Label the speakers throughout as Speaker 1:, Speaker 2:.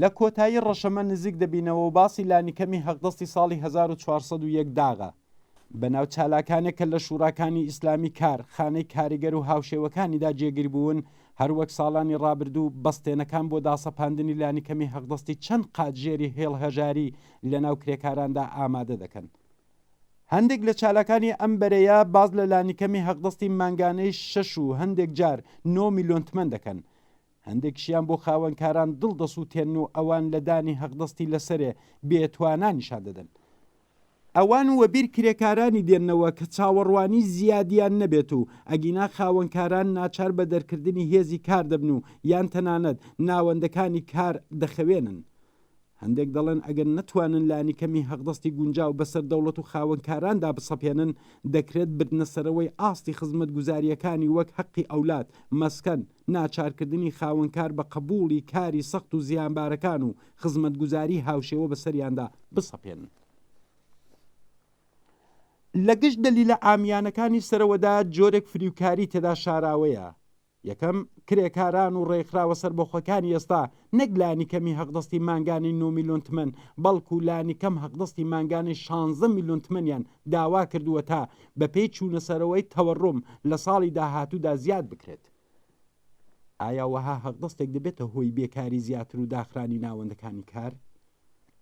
Speaker 1: لە کۆتایی ڕەشەمە نزیک دەبینەوە و باسی لانیکەمی هەقدەستی ساڵی هەزار و چوار سەد و یەک داغە بە ناو چالاکانێک کە لە شوراکانی ئیسلامی کار خانەی کاریگەر و هاوشێوەکانیدا جێگیر بوون هەر وەک ساڵانی ڕابردوو بەستێنەکان بۆ داسەپاندنی لانیکەمی هەقدەستی چەند قات ژێری هێڵ هەژاری لە ناو کرێکاراندا ئامادە دەکەن هەندێک لە چالاکانی ئەم بەرەیە باز لە لانیکەمی هەقدەستی مانگانەی شەش و هەندێک جار نۆ میلیۆن تمەن دەکەن هەندێکشیان بۆ خاوەنکاران دڵ دەسووتێنن و ئەوان لە دانی هەقدەستی لەسەرێ بێ توانا نیشان دەدەن. ئەوان وەبیر کرێکارانی دێننەوە کە چاوەڕوانی زیادیان نەبێت و ئەگینا خاوەنکاران ناچار بە دەرکردنی هێزی کار دەبن و یان تەنانەت ناوەندەکانی کار دەخەوێنن. هەندێک دەڵێن ئەگەر نەتوانن لانیکەمی هەقدەستی گونجاو بەسەر دەوڵەت و خاوەنکاراندا بسەپێنن، دەکرێت بردنەسەرەوەی ئاستی خزمەتگوزارییەکانی وەک هەقی ئەولاد، مەسکەن، ناچارکردنی خاوەنکار بە قبوڵی کاری سەخت و زیانبارەکان و خزمەتگوزاری هاوشێوە بەسەریاندا بسەپێنن. لە گشت دەلیلە عامیانەکانی سەرەوەدا جۆرێک فریوکاری تێدا شاراوەیە، یەکەم، کرێکاران و ڕێکخراوە سەربەخۆکانی ئێستا نەک لانیکەمی هەقدەستی مانگانەی نۆ ملیۆن تمەن، بەڵکو لانیکەم هەقدەستی مانگانەی شانزە ملیۆن تمەنیان داواکردووە تا بەپێی چوونەسەرەوەی تەوەڕوم لە ساڵی داهاتوودا زیاد بکرێت. ئایا وەها هەقدەستێک دەبێتە هۆی بێکاری زیاتر و داخرانی ناوەندەکانی کار؟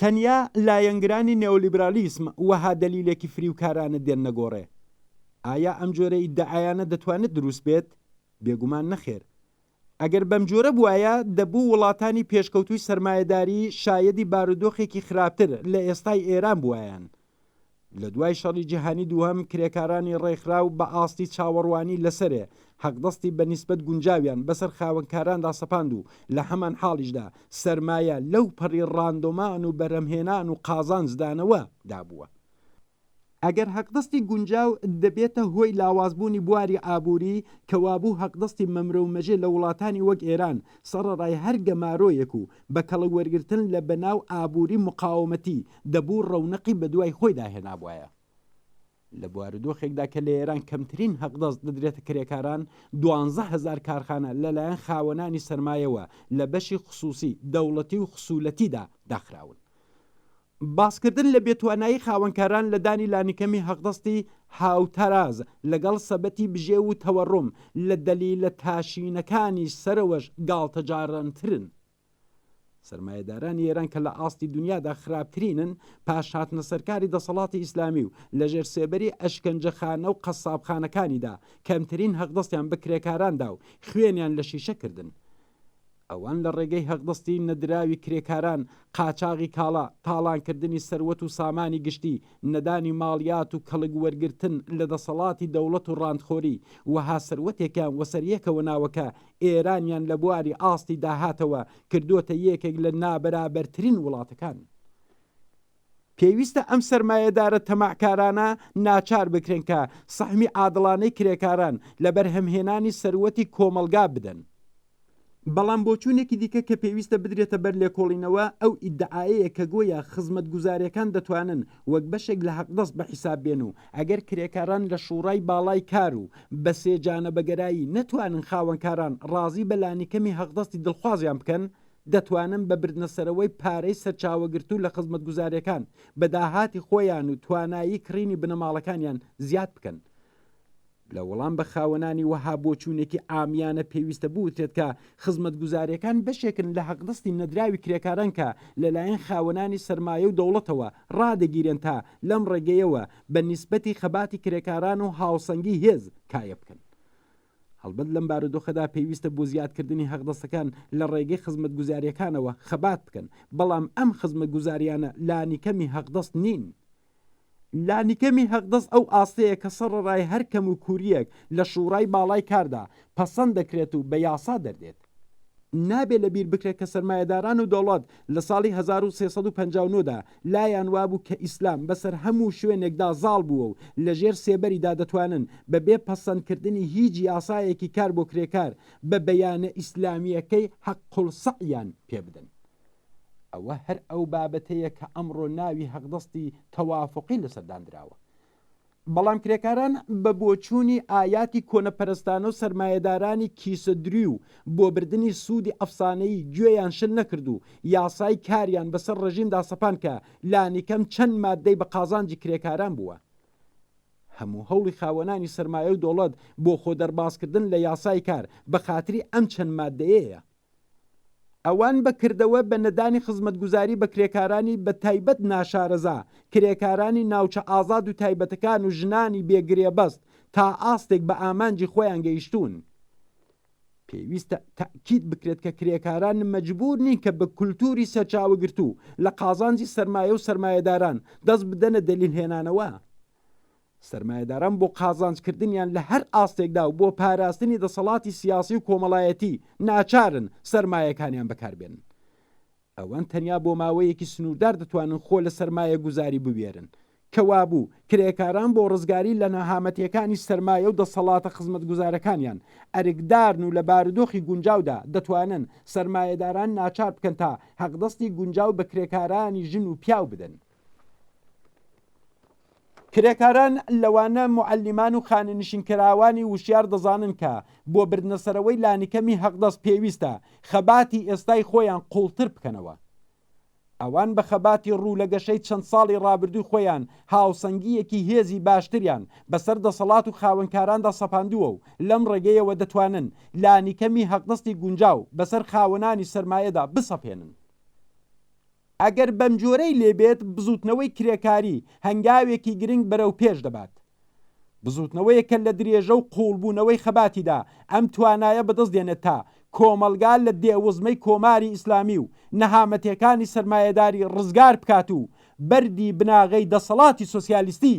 Speaker 1: تەنیا لایەنگرانی نێولیبرالیسم وەها دەلیلێکی فریوکارانە دێننە گۆڕێ. ئایا ئەم جۆرە ئیدعایانە دەتوانێت دروست بێت؟ بێگومان نەخێر. ئەگەر بەم جۆرە بوایە، دەبوو وڵاتانی پێشکەوتووی سەرمایەداری شایەدی بارودۆخێکی خراپتر لە ئێستای ئێران بوایەن. لە دوای شەڕی جیهانی دووهەم کرێکارانی ڕێکخراو بە ئاستی چاوەڕوانی لەسەرێ حەقدەستی بە نیسبەت گونجاویان بەسەر خاوەنکاراندا سەپاند و لە هەمان حاڵیشدا سەرمایە لەو پەڕی ڕاندۆمان و بەرهەمهێنان و قازانجدانەوە دابووە ئەگەر هەقدەستی گونجاو دەبێتە هۆی لاوازبوونی بواری ئابووری، کەوابوو هەقدەستی مەمرە و مەژێ لە وڵاتانی وەک ئێران سەڕەڕای هەر گەمارۆیەک و بە کەڵک وەرگرتن لە بەناو ئابووری مقاومەتی، دەبوو ڕەونەقی بە دوای خۆیدا هێنابوایە. لە بوارودۆخێکدا کە لە ئێران کەمترین هەقدەست دەدرێتە کرێکاران، دوانزە هەزار کارخانە لە لایەن خاوەنانی سەرمایەوە لە بەشی خسووسی، دەوڵەتی و خسوولەتیدا داخراون. باسکردن لە بێتوانایی خاوەنکاران لە دانی لانیکەمی حەقدەستی هاوتەراز لەگەڵ سەبەتی بژێو و تەوەڕوم لە دەلیلە تاشینەکانی سەرەوەش گاڵتەجاڕانترن. سەرمایەدارانی ئێران کە لە ئاستی دونیادا خراپترینن، پاش هاتنە سەرکاری دەسەڵاتی ئیسلامی و لە ژێر سێبەری ئەشکەنجەخانە و قەسابخانەکانیدا، کەمترین حەقدەستیان بە کرێکاران دا و خوێنیان لە شیشە کردن. ئەوان لە ڕێگەی هەقدەستی نەدراوی کرێکاران، قاچاغی کاڵا، تاڵانکردنی سەروەت و سامانی گشتی، نەدانی ماڵیات و کەڵک وەرگرتن لە دەسەڵاتی دەوڵەت و ڕانتخۆری وەها سەروەتێکیان وەسەریەکەوە ناوە کە ئێرانیان لە بواری ئاستی داهاتەوە کردۆتە یەکێک لە نابەرابەرترین وڵاتەکان. پێویستە ئەم سەرمایەدارە تەماعکارانە ناچار بکرێن کە سەهمی عادڵانەی کرێکاران لە بەرهەمهێنانی سەروەتی کۆمەڵگا بدەن. بەڵام بۆچوونێکی دیکە کە پێویستە بدرێتە بەر لێکۆڵینەوە ئەو ئیدعایەیە کە گۆیا خزمەتگوزارەکان دەتوانن وەک بەشێک لە هەقدەست بەحیساب بێن و ئەگەر کرێکاران لە شوڕای باڵای کار و بەسێجانە بەگەرایی نەتوانن خاوەنکاران ڕازی بە لانیکەمی هەقدەستی دڵخوازیان بکەن دەتوانن بە بردنەسەرەوەی پارەی سەرچاوەگرتوو لە خزمەتگوزارییەکان بە داهاتی خۆیان و توانایی کڕینی بنەماڵەکانیان زیاد بکەن. لە وەڵام بە خاوەنانی وەها بۆچوونێکی عامیانە پێویستە بوترێت کە خزمەتگوزارییەکان بەشێکن لە هەقدەستی نەدراوی کرێکاران کە لەلایەن خاوەنانی سەرمایە و دەوڵەتەوە ڕادەگیرێن تا لەم ڕێگەیەوە بە نیسبەتی خەباتی کرێکاران و هاوسەنگی هێز کایە بکەن. هەڵبەت لەم بارودۆخەدا پێویستە بۆ زیادکردنی هەقدەستەکان لە ڕێگەی خزمەتگوزارییەکانەوە خەبات بکەن، بەڵام ئەم خزمەتگوزارییانە لانیکەمی هەقدەست نین. لانیکەمی هەقدەست ئەو ئاستەیە کە سەڕەرای هەر کەموکوورییەک لە شوڕای باڵای کاردا، پەسەند دەکرێت و بە یاسا دەردێت. نابێ لە بیر بکرێ کە سەرمایەداران و دەوڵەت لە ساڵی هەزار و سێ سەد و پەنجا و نۆ دا لایان وابوو کە ئیسلام بە سەر هەموو شوێنێک دا زاڵ بووە و لە ژێر سێبەری دا دەتوانن بە بێ پەسەند کردنی هیچ یاسایەکی کار بۆ کرێکار بە بەیانە ئیسلامییەکەی حق السعیان پێ بدەن. ئەوە هەر ئەو بابەتەیە کە ئەمڕۆ ناوی هەقدەستی تەوافوقی لە سەر داندراوە. بەڵام کرێکاران بە بۆچوونی ئایاتی کۆنەپەرستانە و سەرمایەدارانی کیسە دروی و بۆ بردنی سوودی ئەفسانەیی گوێیان شل نەکرد و یاسای کاریان بەسەر ڕێژیمدا سەپاند کە لانیکەم چەند ماددەی بە قازانجی کرێکاران بووە. هەموو هەوڵی خاوەنانی سەرمایە و دەوڵەت بۆ خۆ دەربازکردن لە یاسای کار بە خاتری ئەم چەند ماددەیەیە. ئەوان بە کردەوە بە نەدانی خزمەتگوزاری بە کرێکارانی بە تایبەت ناشارەزا، کرێکارانی ناوچە ئازاد و تایبەتەکان و ژنانی بێ گرێبەست تا ئاستێک بە ئامانجی خۆیان گەیشتوون. پێویستە تەئکید بکرێت کە کرێکاران مەجبوور نین کە بە کولتووری سەرچاوەگرتوو لە قازانجی سەرمایە و سەرمایەداران دەست بدەنە دەلیل هێنانەوە. سەرمایەداران بۆ قازانج کردنیان لە هەر ئاستێکدا و بۆ پاراستنی دەسەڵاتی سیاسی و کۆمەڵایەتی ناچارن سەرمایەکانیان بەکاربێنن. ئەوان تەنیا بۆ ماوەیەکی سنووردار دەتوانن خۆ لە سەرمایەگوزاری بوێرن. کەوابوو کرێکاران بۆ ڕزگاری لە نەهامەتییەکانی سەرمایە و دەسەڵاتە خزمەتگوزارەکانیان ئەرکدارن و لە بارودۆخی گونجاودا دەتوانن سەرمایەداران ناچار بکەن تا هەقدەستی گونجاو بە کرێکارانی ژن و پیاو بدەن. کرێکاران لەوانە معلمان و خانەنشینکراوانی وشیار دەزانن کە بۆ بردنەسەرەوەی لانیکەمی هەقدەست پێویستە خەباتی ئێستای خۆیان قوڵتر بکەنەوە ئەوان بە خەباتی ڕوو لە گەشەی چەند ساڵی ڕابردووی خۆیان هاوسەنگیەکی هێزی باشتریان بەسەر دەسەڵات و خاوەنکاراندا سەپاندووە و لەم ڕێگەیەوە دەتوانن لانیکەمی هەقدەستی گونجاو بەسەر خاوەنانی سەرمایەدا بسەپێنن ئەگەر بەمجۆرەی لێ بێت بزووتنەوەی کرێکاری هەنگاوێکی گرنگ بەرەو پێش دەبات. بزووتنەوەیەک کە لە درێژە و قووڵبوونەوەی خەباتیدا ئەم توانایە بەدەست دێنێت تا کۆمەڵگا لە دێوزمەی کۆماری ئیسلامی و نەهامەتیەکانی سەرمایەداری ڕزگار بکات و بەردی بناغەی دەسەڵاتی سۆسیالیستی